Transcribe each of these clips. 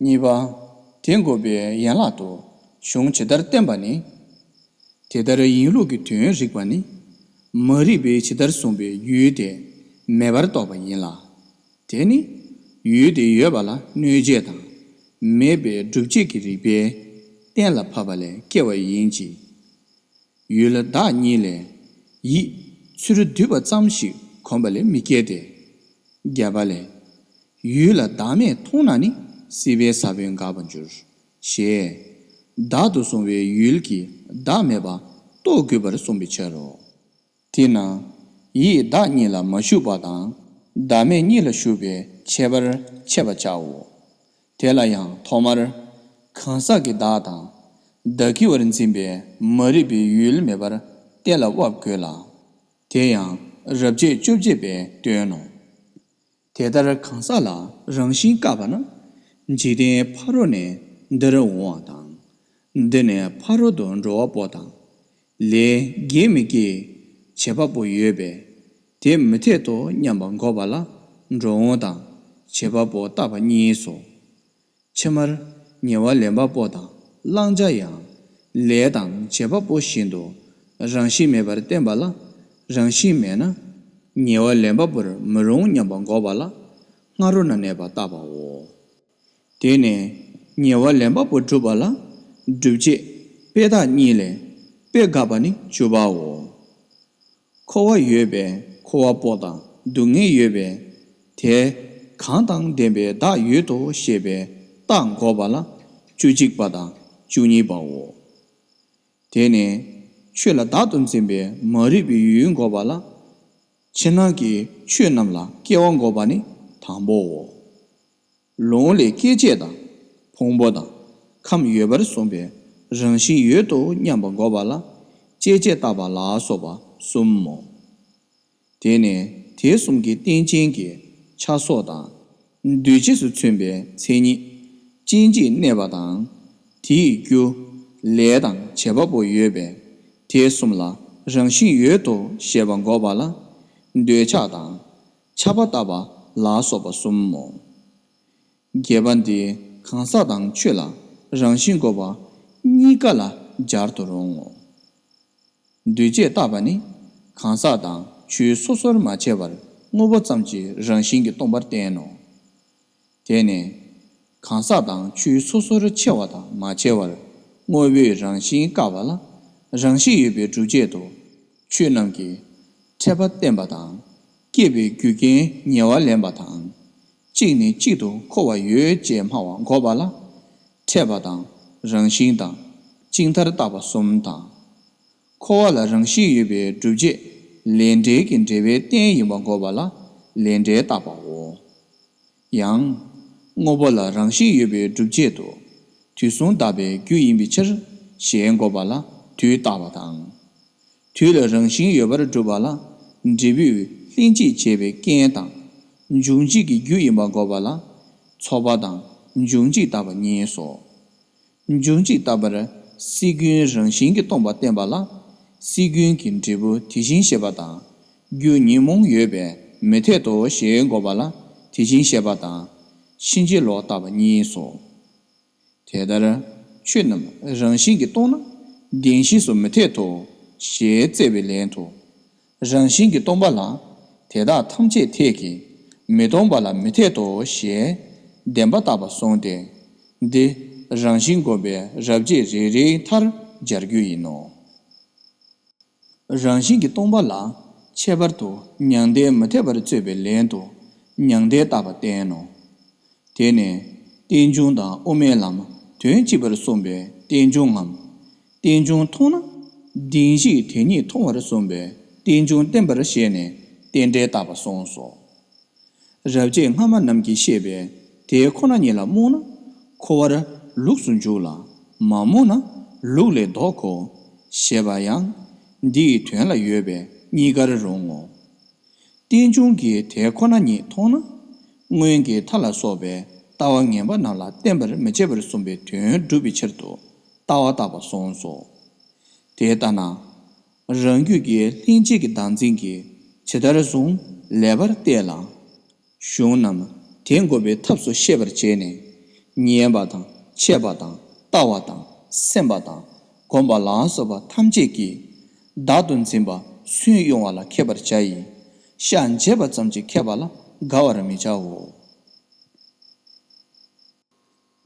གཉིས་པ། དེ་འགོད་པའི་ཡན་ལག་ཏུ་གཞུང་ཇི་ལྟར་བསྟན་པ་ནི། དེ་ལྟར་ཡིན་ལུགས་ཀྱི་དོན་རིགས་པ་ནི། མ་རིག་པས་ཇི་ལྟར་གསུངས་པའི་ཡུལ་དེ་མེད་པར་རྟོགས་པ་ཡིན་ལ། དེ་ནི། ཡུལ་དེ་ཡོད་པ་ལ་གནོད་བྱེད་དང། མེད་པའི་སྒྲུབ་བྱེད་ཀྱི་རིགས་པས་གཏན་ལ་ཕབ་པ་ལས་སྐྱེ་བ་ཡིན་གྱི། ཡུལ་ལ་བདག་གཉིས་ལས། ཡིད། ཚུ་རུ་འདུས་པ་ཙམ་ཞིག་གོམས་པ་ལས་མི་སྐྱེ་སྟེ། བརྒྱད་པ་ལས། ཡུལ་ལ་བདག་མེད་མཐོང་ན་ནི་སྲིད་པའི་ས་བོན་འགགས་པར་འགྱུར། ཞེས། བདག་ཏུ་བཟུང་བའི་ཡུལ་གྱིས་བདག་མེད་པ་རྟོགས་དགོས་པར་གསུངས་པའི་ཕྱིར་རོ། དེས་ན། ཡིད་བདག་གཉིས་ལ་མ་ཞུགས་པ་དང། བདག་མེད་གཉིས་ལ་ཞུགས་པའི་ཁྱད་པར་འཆད་པར་བྱའོ། དེ་ལ་ཡང་ཐོག་མར། གང་ཟག་གི་བདག་དང། བདག་གི་བར་འཛིན་པའི་མ་རིག་པའི་ཡུལ་མེད་པར་གཏན་ལ་དབབ་དགོས་ལ། དེ་ཡང་རབ་བྱེད་བཅོ་བརྒྱད་པའི་དོན་ནོ། དེ་ལྟར་གང་ཟག་ལ་རང་བཞིན་བཀག་པ་ན། འཇིག་རྟེན་ཕ་རོལ་ནས་འདིར་འོང་བ་དང། འདི་ནས་ཕ་རོལ་ཏུ་འགྲོ་བ་པོ་དང། ལས་དགེ་མི་དགེའི་བྱེད་པ་པོ་ཡོད་པས། དེ་མི་འཐད་དོ་སྙམ་པ་འགོག་པ་ལ་འགྲོ་འོང་དང་བྱེད་པ་པོ་བརྟགས་པ་གཉིས་སོ། ཕྱི་མར་ཉེ་བར་ལེན་པ་པོ་དང་བླང་བྱ་ཡང་ལས་དང་བྱེད་པ་པོ་བཞིན་དུ་རང་བཞིན་མེད་པར་བསྟན་པ་ལ་རང་བཞིན་མེད་ན་ཉེ་བར་ལེན་པ་པོར་མི་རུང་སྙམ་པ་འགོག་པ་ལ་སྔ་རོལ་ན་གནས་པ་བརྟགས་པའོ། དེ་ནས་ཉེ་བར་ལེན་པ་པོ་བསྒྲུབ་པ་ལ་སྒྲུབ་བྱེད་དཔེ་དག་གཉིས་ལས་དཔེ་དགག་པ་ནི་བཅུ་པའོ། འཁོར་བ་ཡོད་པས་འཁོར་བ་པོ་དང་སྡུག་བསྔལ་ཡོད་པས་དེ། གང་དང་ལྡན་པའི་བདག་ཡོད་དོ་ཞེས་པའི་རྟགས་འགོག་པ་ལ་བཅུ་གཅིག་པ་དང་བཅུ་གཉིས་པའོ། དེ་ནས་ཆོས་ལ་བདག་ཏུ་འཛིན་པའི་མ་རིག་པའི་ཡུལ་འགོག་པ་ལ། ཕྱི་ནང་གི་ཆོས་རྣམས་ལ་སྐྱེ་བ་འགོག་པ་ནི་དང་པོའོ། ལུང་ལས་སྐྱེ་མཆེད་དང་ཕུང་པོ་དང་ཁམས་ཡོད་པར་གསུངས་པའི་རང་བཞིན་ཡོད་དོ་སྙམ་པ་འགོག་པ་ལ་སྐྱེ་མཆེད་བཏགས་པ་ལ་སོགས་པ་གསུམ་མོ། དེ་ནས་དེ་གསུམ་གྱི་རྟེན་ཅན་གྱི་ཆ་སོགས་དང། འདུས་བྱས་སུ་མཚོན་པའི་མཚན་ཉིད་ཅི་མཆིས་གནས་པ་དང། དེའི་རྒྱུ། ལས་དང་བྱེད་པ་པོ་ཡོད་པས་དེ་གསུམ་ལ་རང་བཞིན་ཡོད་དོ་ཞེས་པ་འགོག་པ་ལ། འདོད་ཆགས་དང། ཆགས་པ་ལྟ་བ་ལ་སོགས་པ་གསུམ་མོ། བརྒྱད་པ་འདི་གང་ཟག་དང་ཆོས་ལ་རང་བཞིན་གོ་བ་གཉིས་ཀ་ལ་སྦྱར་དུ་རུང་ངོ། འདུས་བྱས་བརྟགས་པ་ནི་གང་ཟག་དང་ཆོས་སོ་སོར་མ་ཕྱེ་བར་དངོས་པོ་ཙམ་གྱི་རང་བཞིན་གྱིས་སྟོང་པར་བསྟན་ནོ། དེ་ནས། གང་ཟག་དང་ཆོས་སོ་སོར་ཕྱེ་བ་དང་མ་ཕྱེ་བར་དངོས་པོའི་རང་བཞིན་བཀག་པ་ལ་རང་བཞིན་ཡོད་པའི་སྒྲུབ་བྱེད་དུ་ཆོས་རྣམས་ཀྱི་ཕྲད་པ་བསྟན་པ་དང། སྐྱེས་པའི་རྒྱུ་རྐྱེན་ཉེ་བར་ལེན་པ་དང། གཅིག་ནས་གཅིག་ཏུ་འཁོར་བ་ཡོད་ཅེས་སྨྲ་བ་འགོག་པ་ལ། ཕྲད་པ་དང་རང་བཞིན་དང་གཅིག་མཐར་བཏགས་པ་གསུམ་དང། འཁོར་བ་ལ་རང་བཞིན་ཡོད་པའི་སྒྲུབ་བྱེད་ལས་འབྲེལ་གྱི་འབྲེལ་བའི་རྟེན་ཡིན་པར་འགོག་པ་ལ་ལས་འབྲེལ་བཏགས་པའོ། ཡང། དངོས་པོ་ལ་རང་བཞིན་ཡོད་པའི་སྒྲུབ་བྱེད་དུ་དུས་གསུམ་གདགས་པའི་རྒྱུ་ཡིན་པའི་ཕྱིར་ཞེས་འགོག་པ་ལ་དུས་བཏགས་པ་དང། དུས་ལ་རང་བཞིན་ཡོད་པར་སྒྲུབ་པ་ལ་འབྲས་བུས་ལྷན་སྐྱེས་བྱེད་པའི་རྐྱེན་དང། འབྱུང་འཇིག་གི་རྒྱུ་ཡིན་པར་འགོག་པ་ལ་ཚོགས་པ་དང་འབྱུང་འཇིག་བཏགས་པ་གཉིས་སོ། མཇུག་མཇུག་ལྟ་བར་སྲིད་རྒྱུན་རང་བཞིན་གྱིས་སྟོང་པ་བསྟན་པ་ལ། སྲིད་རྒྱུན་གྱི་འབྲས་བུ་དེ་བཞིན་གཤེགས་པ་དང། རྒྱུ་ཉོན་མོངས་ཡོད་པས་མི་འཐད་དོ་ཞེས་འགོག་པ་ལ་དེ་བཞིན་གཤེགས་པ་དང། ཕྱིན་ཅི་ལོག་ལྟ་བ་གཉིས་སོ། དེ་ལྟར་ཆོས་རྣམས་རང་བཞིན་གྱིས་སྟོང་ན་བདེན་བཞི་སུ་མི་འཐད་དོ་ཞེས་བཙལ་བའི་ལན་དུ། རང་བཞིན་གྱིས་སྟོང་པ་ལ་དེ་དག་ཐམས་ཅད་འཐད་ཀྱི། མི་སྟོང་པ་ལ་མི་འཐད་དོ་ཞེས་བདེན་པ་བཏགས་པ་སོང་སྟེ། འདི་རང་བཞིན་བསྒོམ་པའི་རབ་བྱེད་རེ་རེའི་མཐར་སྦྱར་རྒྱུ་ཡིན་ནོ། རང་བཞིན་གྱིས་སྟོང་པ་ལ་ཁྱད་པར་དུ་མྱང་འདས་མི་འཐད་པར་རྩོད་པའི་ལན་དུ་མྱང་འདས་བཏགས་པ་བསྟན་ནོ། དེ་ནས་རྟེན་འབྱུང་དང་དབུ་མའི་ལམ་དོན་གཅིག་པར་གསུངས་པའི་རྟེན་འབྱུང་ངམ། རྟེན་འབྱུང་མཐོང་ན་གདིང་བཞིས་དེ་ཉིད་མཐོང་བར་གསུངས་པས་རྟེན་འབྱུང་བསྟན་པར་བཞེད་ནས་རྟེན་འབྲེལ་བཏགས་པ་གསུངས་སོ། རབ་བྱེད་སྔ་མ་རྣམས་ཀྱིས་བཤད་པས་དེ་ཁོ་ན་ཉིད་ལ་རྨོངས་ན་འཁོར་བར་ལུགས་སུ་འཇུག་ལ་མ་རྨོངས་ན་ལུགས་ལས་ལྡོག་གོ། ཞེས་པ་ཡང་འདི་ཡི་དོན་ལ་ཡོད་པས་གཉིས་ཀར་རུང་ངོ། རྟེན་འབྱུང་གིས་དེ་ཁོ་ན་ཉིད་མཐོང་ན་སྔོན་གྱི་མཐའ་ལ་སོགས་པའི་ལྟ་བ་ངན་པ་རྣམས་ལ་བརྟེན་པར་མི་བྱེད་པར་གསུངས་པའི་དོན་བསྒྲུབ་པའི་ཕྱིར་དུ་ལྟ་བ་དག་པ་གསུངས་སོ། དེ་ལྟ་ན། རང་རྒྱུད་ཀྱི་ལྷན་སྐྱེས་ཀྱི་བདག་འཛིན་གྱིས་ཇི་ལྟར་བཟུང་ལེ་བར་བལྟས་ལ། གཞུང་རྣམས་དེ་འགོག་པའི་ཐབས་སུ་ཤེས་པར་བྱས་ནས། ཉན་པ་དང་འཆད་པ་དང་ལྟ་བ་དང་སེམས་པ་དང་བསྒོམ་པ་ལ་སོགས་པ་ཐམས་ཅད་ཀྱིས། བདག་ཏུ་འཛིན་པ་སུན་དབྱུང་བ་ལ་མཁས་པར་བྱ་ཡི། ཤ་འབྱེད་པ་ཙམ་གྱིས་མཁས་པ་ལ་དགའ་བར་མི་བྱའོ།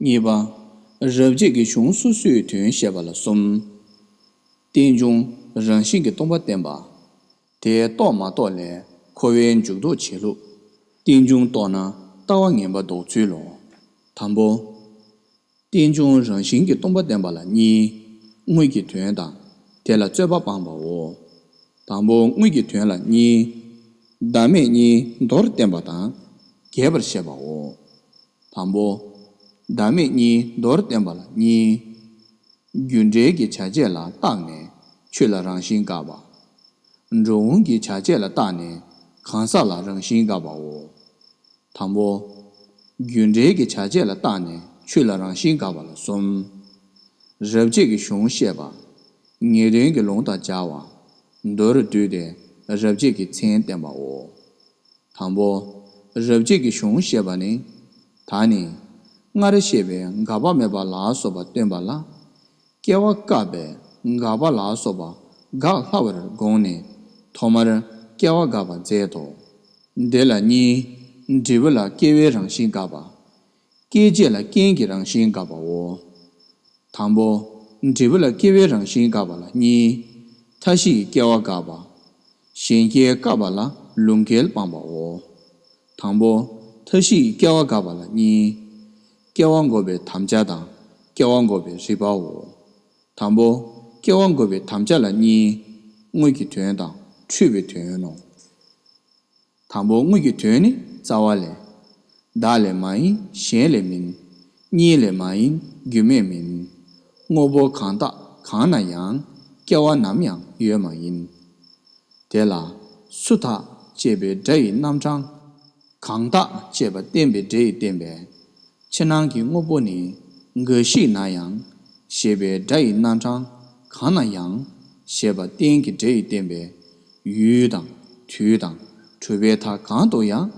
གཉིས་པ། རབ་བྱེད་ཀྱི་གཞུང་སོ་སོའི་དོན་བཤད་པ་ལ་གསུམ། རྟེན་འབྱུང་རང་བཞིན་གྱི་སྟོང་པ་བསྟན་པ། དེ་རྟོགས་མ་རྟོགས་ལས་འཁོར་བའི་མཇུག་ལྡོག་བྱེད་ལུགས། རྟེན་འབྱུང་རྟོགས་ན་ལྟ་བ་ངན་པ་ལྡོག་ཚུལ་ལོ། དང་པོ། རྟེན་འབྱུང་རང་བཞིན་གྱི་སྟོང་པ་བསྟན་པ་ལ་གཉིས། དངོས་ཀྱི་དོན་དང་དེ་ལ་རྩོད་པ་སྤངས་པའོ། དང་པོ་དངོས་ཀྱི་དོན་ལ་གཉིས། བདག་མེད་གཉིས་མདོར་བསྟན་པ་དང་རྒྱས་པར་བཤད་པའོ། དང་པོ། བདག་མེད་གཉིས་མདོར་བསྟན་པ་ལ་གཉིས། རྒྱུ་འབྲས་ཀྱི་བྱ་བྱེད་ལ་བརྟགས་ནས་ཆོས་ལ་རང་བཞིན་འགག་པ། འགྲོ་འོང་གི་བྱ་བྱེད་ལ་བརྟགས་ནས་གང་ཟག་ལ་རང་བཞིན་འགག་པའོ། དང་པོ། རྒྱུ་འབྲས་ཀྱི་བྱ་བྱེད་ལ་བརྟགས་ནས་ཆོས་ལ་རང་བཞིན་འགག་པ་ལ་གསུམ། རབ་བྱེད་ཀྱི་གཞུང་བཤད་པ། ངེས་དོན་གྱི་ལུང་དང་སྦྱར་བ། མདོ་རུ་བསྡུས་ཏེ་རབ་བྱེད་ཀྱི་མཚན་བསྟན་པའོ། དང་པོ། རབ་བྱེད་ཀྱི་གཞུང་ཞེས་པ་ནི། ད་ནི། སྔར་བཤད་པའི་འགག་པ་མེད་པ་ལ་སོགས་པ་སྟོན་པ་ལ། སྐྱེ་བ་བཀག་པའི་འགག་པ་ལ་སོགས་པ་འགག་སླ་བར་དགོངས་ནས་ཐོག་མར་སྐྱེ་བ་འགག་པ་མཛད་དོ། དེ་ལ་གཉིས། འབྲས་བུ་ལ་སྐྱེ་བའི་རང་བཞིན་འགག་པ། སྐྱེ་མཆེད་ལ་རྐྱེན་གྱི་རང་བཞིན་འགགས་པའོ། དང་པོ། འབྲས་བུ་ལ་སྐྱེ་བའི་རང་བཞིན་འགགས་པ་ལ་གཉིས། མཐའ་བཞི་ཡི་སྐྱེ་བ་འགགས་པ། གཞན་སྐྱེ་འགགས་པ་ལ་ལུང་གལ་སྤངས་པའོ། དང་པོ། མཐའ་བཞི་ཡི་སྐྱེ་བ་འགགས་པ་ལ་གཉིས། སྐྱེ་བ་འགོག་པའི་དམ་བཅའ་དང་སྐྱེ་བ་འགོག་པའི་རིགས་པའོ། དང་པོ། སྐྱེ་བ་འགོག་པའི་དམ་བཅའ་ལ་གཉིས། དངོས་ཀྱི་དོན་དང་འཁྲུལ་བའི་དོན་ནོ། དང་པོ་དངོས་ཀྱི་དོན་ནི་རྩ་བ་ལས། བདག་ལས་མ་ཡིན་གཞན་ལས་མིན། གཉིས་ལས་མ་ཡིན་རྒྱུ་མེད་མིན། དངོས་པོ་གང་དག་གང་ན་ཡང། སྐྱེ་བ་ནམ་ཡང་ཡོད་མ་ཡིན། དེ་ལ་སུ་དག་ཅེས་པའི་སྒྲ་ཡི་རྣམ་གྲངས། གང་དག་ཅེས་པ་བསྟན་པའི་སྒྲ་ཡིས་བསྟན་པས། ཕྱི་ནང་གི་དངོས་པོ་ནི་འགའ་ཞིག་ན་ཡང། ཞེས་པའི་སྒྲ་ཡི་རྣམ་གྲངས་གང་ན་ཡང། ཞེས་པ་བསྟན་གྱི་སྒྲ་ཡིས་བསྟན་པས། ཡུལ་དང། དུས་དང། གྲུབ་པའི་མཐའ་གང་དུ་ཡང།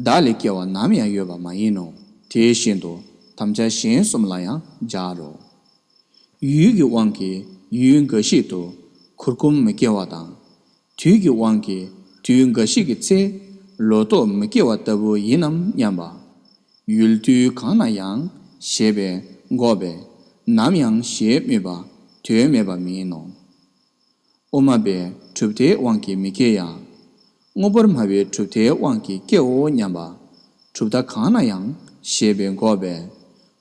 བདག་ལས་སྐྱེ་བ་ནམ་ཡང་ཡོད་པ་མ་ཡིན་ནོ། དེ་བཞིན་དུ། དམ་བཅའ་གཞན་གསུམ་ལ་ཡང་སྦྱར་རོ། ཡུལ་གྱི་དབང་གིས་ཡུལ་འགའ་ཞིག་ཏུ། གུར་ཀུམ་མི་སྐྱེ་བ་དང། དུས་ཀྱི་དབང་གིས་དུས་འགའ་ཞིག་གི་ཚེ། ལོ་ཏོག་མི་སྐྱེ་བ་ལྟ་བུ་ཡིན་ནམ་སྙམ་པ། ཡུལ་དུས་གང་ན་ཡང། ཞེས་པས་འགོག་པས། ནམ་ཡང་ཞེས་སྨོས་པ། དོན་མེད་པ་མིན་ནོ། དབུ་མ་པའི་གྲུབ་མཐའི་དབང་གིས་མི་སྐྱེ་ཡང། དངོས་པོར་སྨྲ་བའི་གྲུབ་མཐའི་དབང་གིས་སྐྱེའོ་སྙམ་པ། གྲུབ་མཐའ་གང་ན་ཡང་ཞེས་པའི་འགོག་པས།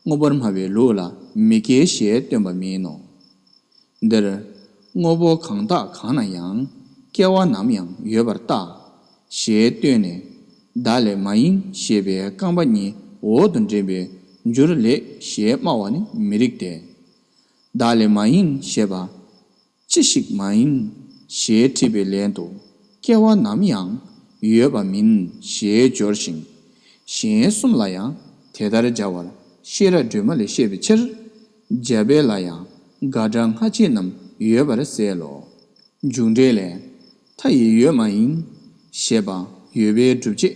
དངོས་པོར་སྨྲ་བའི་ལུགས་ལ་མི་སྐྱེ་ཞེས་སྟོན་པ་མིན་ནོ། འདིར། དངོས་པོ་གང་དག་གང་ན་ཡང་སྐྱེ་བ་ནམ་ཡང་ཡོད་པར་བརྟག། ཞེས་སྟོན་ནས། བདག་ལས་མ་ཡིན་ཞེས་པའི་རྐང་པ་གཉིས་འོག་ཏུ་འདྲེན་པའི་འགྱུར་ལེགས་ཞེས་སྨྲ་བ་ནི་མི་རིགས་ཏེ། བདག་ལས་མ་ཡིན་ཞེས་པ། ཅི་ཞིག་མ་ཡིན་ཞེས་དྲིས་པའི་ལན་དུ་སྐྱེ་བ་ནམ་ཡང་ཡོད་པ་མིན་ཞེས་སྦྱོར་ཞིང། གཞན་གསུམ་ལ་ཡང་དེ་ལྟར་སྦྱར་བར་ཤེས་རབ་སྒྲོན་མ་ལས་བཤད་པའི་ཕྱིར། འཇལ་དཔེ་ལ་ཡང་དགག་སྒྲ་སྔ་ཕྱི་རྣམས་ཡོད་པར་གསལ་ལོ། མཇུག་འབྲས་ལས། མཐའ་ཡི་ཡོད་མ་ཡིན། ཞེས་པ་ཡོད་པའི་སྒྲུབ་བྱེད་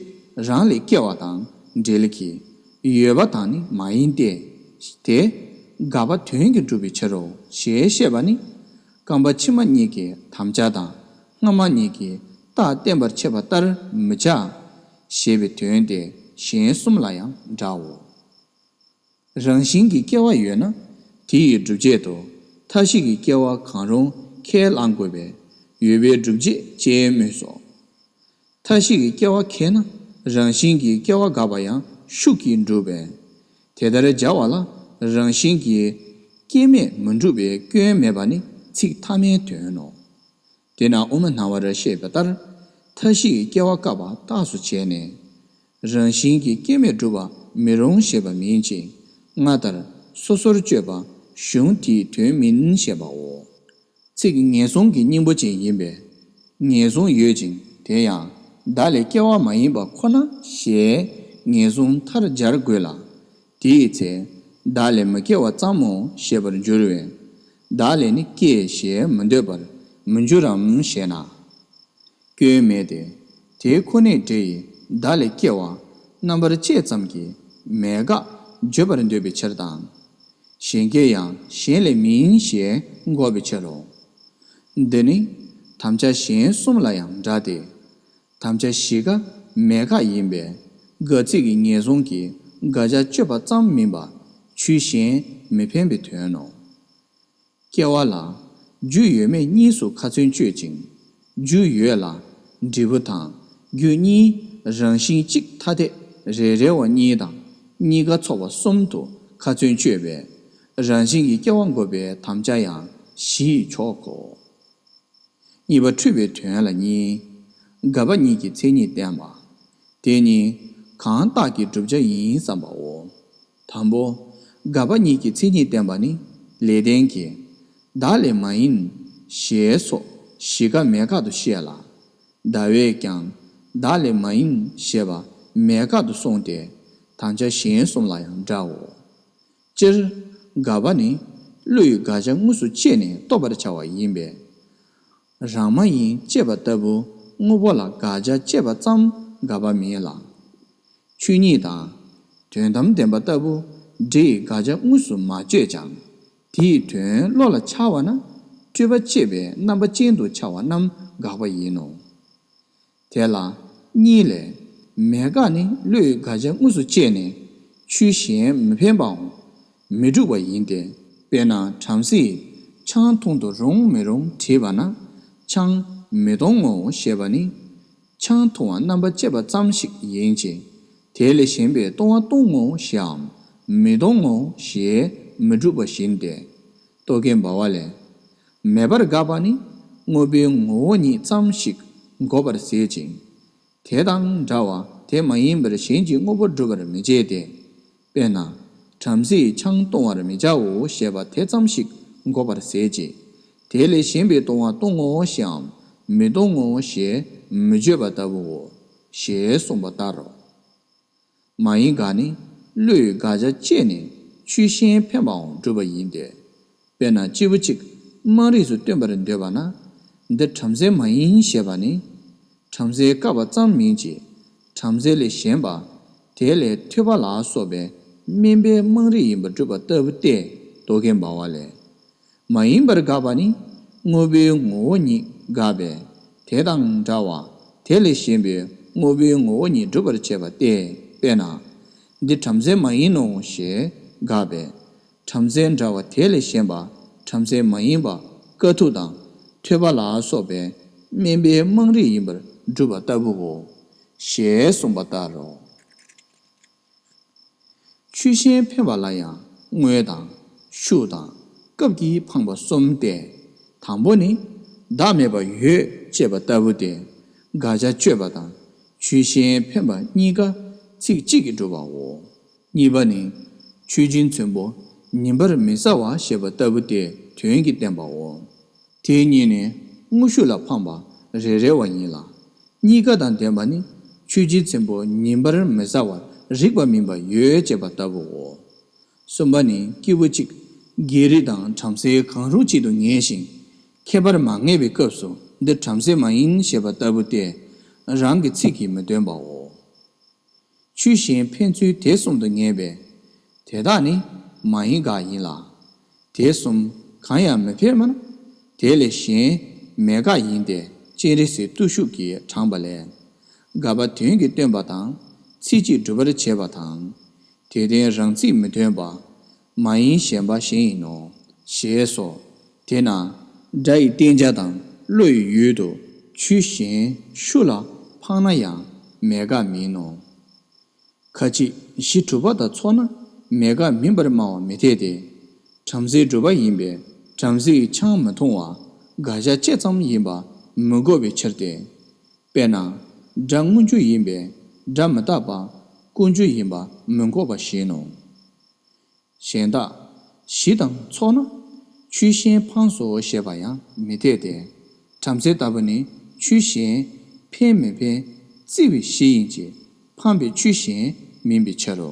རང་ལས་སྐྱེ་བ་དང་འབྲེལ་གྱི་ཡོད་པ་དང་ནི་མ་ཡིན་ཏེ། དེ་དགག་པ་དོན་གྱིས་འགྲུབ་པའི་ཕྱིར་རོ་ཞེས་བཤད་པ་ནི། རྐང་པ་ཕྱི་མ་གཉིས་ཀྱི་དམ་བཅའ་དང་སྔ་མ་གཉིས་ཀྱི་རྟགས་བསྟན་པར་འཆད་པ་ལྟར་མི་བྱ། ཞེས་པའི་དོན་ཏེ་གཞན་གསུམ་ལ་ཡང་འདྲའོ། རང་བཞིན་གྱི་སྐྱེ་བ་ཡོད་ན་དེ་ཡི་སྒྲུབ་བྱེད་དུ་མཐའ་བཞི་གི་སྐྱེ་བ་གང་རུང་ཁས་བླང་དགོས་པས་ཡོད་པའི་སྒྲུབ་བྱེད་ཅེས་སྨོས་སོ། མཐའ་བཞི་གི་སྐྱེ་བ་ཁེགས་ན་རང་བཞིན་གྱི་སྐྱེ་བ་འགག་པ་ཡང་ཤུགས་ཀྱིས་འགྲུབ་པས། དེ་ལྟར་སྦྱར་བ་ལ་རང་བཞིན་གྱི་སྐྱེ་མེད་མི་འགྲུབ་པའི་སྐྱོན་མེད་པ་ནི་ཚིག་ཐ་མའི་དོན་ནོ། དེས་ན་དབུ་མ་སྣང་བར་བཤད་པ་ལྟར་མཐའ་བཞི་གི་སྐྱེ་བ་བཀག་པ་རྟགས་སུ་བྱས་ནས། རང་བཞིན་གྱི་སྐྱེ་མེད་བསྒྲུབ་པ་མི་རུང་ཞེས་པ་མིན་ཅིང། སྔ་ལྟར་སོ་སོར་གཅོད་པ་གཞུང་དེའི་དོན་མིན་ཞེས་པའོ། ཚིག་ངེས་བཟུང་གི་སྙིང་པོ་ཅན་ཡིན་པས། ངེས་བཟུང་ཡོད་ཅིང་དེ་ཡང་བདག་ལས་སྐྱེ་བ་མ་ཡིན་པ་ཁོ་ན་ཞེས་ངེས་བཟུང་མཐར་སྦྱར་དགོས་ལ། དེའི་ཚེ། བདག་ལས་མ་སྐྱེ་བ་ཙམ་མོ་ཞེས་པར་འགྱུར་བས། བདག་ལས་ནི་སྐྱེ་ཞེས་མི་འདོད་པར་མི་འགྱུར་རམ་ཞེ་ན། སྐྱོན་མེད་དེ། དེའི་ཁོ་ནའི་སྒྲས་ཡི་དྭགས་ལས་སྐྱེ་བ། རྣམ་པར་བཅད་ཙམ་གྱིས་མེད་དགག། བརྗོད་པར་འདོད་པའི་ཕྱིར་དང། གཞན་སྐྱེ་ཡང་གཞན་ལས་མིན་ཞེས་འགོག་པའི་ཕྱིར་རོ། འདི་ནི། དམ་བཅའ་གཞན་གསུམ་ལ་ཡང་འདྲ་སྟེ། དམ་བཅའ་བཞི་ཀ་མེད་དགག་ཡིན་པས། དགག་ཚིག་གི་ངེས་བཟུང་གིས་དགག་བྱ་གཅོད་པ་ཙམ་མིན་པ། ཆུའི་གཞན་མི་འཕེན་པའི་དོན་ནོ། སྐྱེ་བ་ལ། རྒྱུ་ཡོད་མེད་གཉིས་སུ་ཁ་ཚོན་གཅོད་ཅིང། རྒྱུ་ཡོད་ལ། འབྲས་བུ་དང་རྒྱུ་གཉིས་རང་བཞིན་གཅིག་ཐ་དད་རེ་རེ་བ་གཉིས་དང་གཉིས་ཀ་ཚོགས་པ་གསུམ་དུ་ཁ་ཚོན་གཅོད་པས། རང་བཞིན་གྱི་སྐྱེ་བ་འགོག་པའི་དམ་བཅའ་ཡང་བཞི་ཡི་མཆོག་གོ། གཉིས་པ་འཁྲུལ་པའི་དོན་ལ་གཉིས། འགག་པ་གཉིས་ཀྱི་མཚན་ཉིད་བསྟན་པ། དེ་གཉིས་གང་བཏགས་ཀྱི་བསྒྲུབ་བྱ་ཡིན་བསམ་པའོ། དང་པོ། དགག་པ་ཉིད་ཀྱི་མཚན་ཉིད་བསྟན་པ་ནི། ལས་ལྡན་གྱིས། བདག་ལས་མ་ཡིན། ཞེས་སོགས་བཞི་ཀ་མེད་དགག་ཏུ་བཤད་ལ། ཟླ་བས་ཀྱང། བདག་ལས་མ་ཡིན་ཞེས་པ་མེད་དགག་ཏུ་སོང་སྟེ། དང་ཆ་གཞན་གསུམ་ལ་ཡང་འདྲའོ། སྤྱིར། དགག་པ་ནི། བློ་ཡི་དགག་བྱ་དངོས་སུ་དཔྱད་ནས་རྟོགས་པར་བྱ་བ་ཡིན་པས། རང་མ་ཡིན་ཅེས་པ་ལྟ་བུ་དངོས་པོ་ལ་དགག་བྱ་བཅད་པ་ཙམ་དགག་པ་མིན་ལ། ཆོས་ཉིད་དང། དོན་དམ་བདེན་པ་ལྟ་བུ་འདྲེ་ཡི་དགག་བྱ་དངོས་སུ་མ་བཅད་ཅིང་དེའི་དོན་བློ་ལ་འཆར་བ་ན་སྤྲོས་པ་བཅད་པའི་རྣམ་པ་ཅན་དུ་འཆར་བ་རྣམས་དགག་པ་ཡིན་ནོ། དེ་ལ་གཉིས་ལས། མེད་དགག་ནི་བློས་དགག་བྱ་དངོས་སུ་སྤྱད་ནས་ཆོས་གཞན་མི་འཕེན་པའོ། མི་འགྲུབ་པ་ཡིན་ཏེ། དཔེར་ན་བྲམ་ཟེས་ཆང་འཐུང་དུ་རུང་མི་རུང་དྲིས་པ་ན། ཆང་མི་གཏོང་ངོ་ཞེས་པ་ནི། ཆང་འཐུང་བ་རྣམ་པར་བཅད་པ་ཙམ་ཞིག་ཡིན་གྱི། དེ་ལས་གཞན་པའི་གཏོང་བ་གཏོང་ངོ་ཞེའམ། མི་གཏོང་ངོ་ཞེས་མི་འགྲུབ་པ་བཞིན་ཏེ། རྟོག་གེ་འབའ་བ་ལས། མེད་པར་དགག་པ་ནི་དངོས་པོའི་ངོ་བོ་ཉིད་ཙམ་ཞིག་འགོག་པར་ཟད་ཅིང། དེ་དང་འདྲ་བ་དེ་མ་ཡིན་པར་གཞན་གྱི་དངོས་པོ་སྒྲུབ་པར་མི་བྱེད་དེ། དཔེར་ན། བྲམ་ཟེས་ཆང་བཏུང་བར་མི་བྱའོ་ཞེས་པ་དེ་ཙམ་ཞིག་འགོག་པར་ཟད་ཀྱི། དེ་ལས་གཞན་པའི་བཏུང་བ་བཏུང་ངོ་ཞེའམ་མི་བཏུང་ངོ་ཞེས་མི་བརྗོད་པ་ལྟ་བུའོ། ཞེས་གསུངས་པ་ལྟར་རོ། མ་ཡིན་དགག་ནི་བློས་དགག་བྱ་སྤྱད་ནས་ཆུའི་གཞན་ཕན་པའང་སྒྲུབ་པ་ཡིན་ཏེ། དཔེར་ན་སྤྱིལ་བུ་གཅིག་དམངས་རིགས་སུ་སྟོན་པར་འདོད་པ་ན། འདི་བྲམ་ཟེ་མ་ཡིན་ཞེས་པ་ནི། བྲམ་ཟེའི་བཀའ་བ་ཙམ་མིན་གྱི། བྲམ་ཟེ་ལས་གཞན་པ། དེ་ལས་ཐོས་པ་ལ་སོགས་པའི་སྨན་པའི་དམངས་རིགས་ཡིན་པར་སྒྲུབ་པ་ལྟ་བུ་སྟེ་རྡོ་ཁའི་འབར་བ་ལས། མ་ཡིན་པར་དགག་པ་ནི་དངོས་པོའི་ངོ་བོ་ཉིད་དགག་པས་དེ་དང་འདྲ་བ་དེ་ལས་གཞན་པའི་དངོས་པོའི་ངོ་བོ་ཉིད་སྒྲུབ་པར་བྱེད་པ་སྟེ་དཔེར་ན། འདི་བྲམ་ཟེ་མ་ཡིན་ནོ་ཞེས་དགག་པས། བྲམ་ཟེ་འདྲ་བ་དེ་ལས་གཞན་པ་བྲམ་ཟེ་མ་ཡིན་པ་དཀའ་ཐུབ་དང་ཐོད་པ་ལ་སོགས་པའི་དམན་པའི་དམངས་རིགས་ཡིན་པར་སྒྲུབ་པ་ལྟ་བུའོ། ཞེས་གསུངས་པ་ལྟར་རོ། ཆུ་ཤེལ་འཕེལ་བ་ལ་ཡང་དངོས་དང། ཤུགས་དང། སྐབས་ཀྱིས་འཕངས་པ་གསུམ་སྟེ། དང་པོ་ནི། བདག་མེད་པ་ཡོད་ཅེས་པ་ལྟ་བུ་སྟེ། དགག་བྱ་གཅོད་པ་དང་ཆུ་ཤེལ་འཕེན་པ་གཉིས་ཀ་ཚིག་གཅིག་གིས་འགྲུབ་པའོ། གཉིས་པ་ནི། མཆོད་སྦྱིན་ཚོན་པོ་ཉིན་པར་མི་ཟ་བ་ཞེས་པ་ལྟ་བུ་སྟེ་དོན་གྱིས་བསྟན་པའོ། དེའི་གཉིས་ནི་དངོས་ཤུགས་ལ་འཕངས་པ་རེ་རེ་བ་ཡིན་ལ། གཉིས་ཀ་དང་ལྡན་པ་ནི་ཆོས་རྗེ་ཚེམ་བུ་ཉིན་པར་མི་ཟ་བར་རིགས་པ་མིན་པ་ཡོད་ཅེས་པ་ལྟ་བུའོ། གསུམ་པ་ནི་སྐྱེས་བུ་གཅིག་རྒྱལ་རིགས་དང་བྲམ་ཟེ་གང་རུང་གཅིག་ཏུ་ངེས་ཤིང། ཁྱད་པར་མ་ངེས་པའི་སྐབས་སུ་འདིར་བྲམ་ཟེ་མ་ཡིན་ཞེས་པ་ལྟ་བུ་སྟེ། རང་གི་ཚིག་གིས་མི་སྟོན་པའོ། ཆུ་གཞན་ཕན་ཚུན་དེ་གསུམ་དུ་ངེས་པས། དེ་དག་ནི་མ་ཡིན་དགག་ཡིན་ལ། དེ་གསུམ་གང་ཡང་མི་ཕན་མོད། དེ་ལས་གཞན་མེད་དགག་ཡིན་ཏེ་སྤྱན་རས་གཟིགས་བརྟུལ་ཞུགས་ཀྱིས་དྲངས་པ་ལས། དགག་པ་དོན་གྱི་སྟོན་པ་དང་ཚིག་གཅིག་སྒྲུབ་པར་བྱེད་པ་དང། དེ་དོན་རང་ཚིག་མི་སྟོན་པ། མ་ཡིན་གཞན་པ་གཞན་ཡིན་ནོ། ཞེས་སོ། དེས་ན། སྒྲ་ཡི་བསྟན་བྱ་དང་བློ་ཡི་ཡུལ་དུ་ཆུ་གཞན་ཤུ་ལ་འཕངས་ན་ཡང་མེད་དགག་མིན་ནོ། ཁ་ཅིག་གཞི་གྲུབ་པ་དང་ཚོགས་ན་མེད་དགག་མིན་པར་སྨྲ་བ་མི་འཐད་དེ། བྲམ་ཟེའི་སྒྲུབ་པ་ཡིན་པས་བྲམ་ཟེ་ཡི་ཆང་མི་འཐུང་བ་དགག་བྱ་བཅད་ཙམ་ཡིན་པ་མི་གོ་བའི་ཕྱིར་ཏེ། དཔེར་ན། སྒྲ་དངོས་འཇུག་ཡིན་པས་སྒྲ་མི་རྟག་པ་ཀུན་འཇུག་ཡིན་པ་མི་འགོག་པ་བཞིན་ནོ། གཞན་དག། གཞི་དང་ཚོགས་ན། ཆུ་གཞན་འཕངས་སོ་ཞེས་པ་ཡང་མི་འཐད་དེ། བྲམ་ཟེ་ལྟ་བུ་ནི་ཆུ་གཞན། འཕེན་མི་འཕེན། བརྩི་བའི་གཞི་ཡིན་གྱི། འཕངས་པའི་ཆུ་གཞན་མིན་པའི་ཕྱིར་རོ།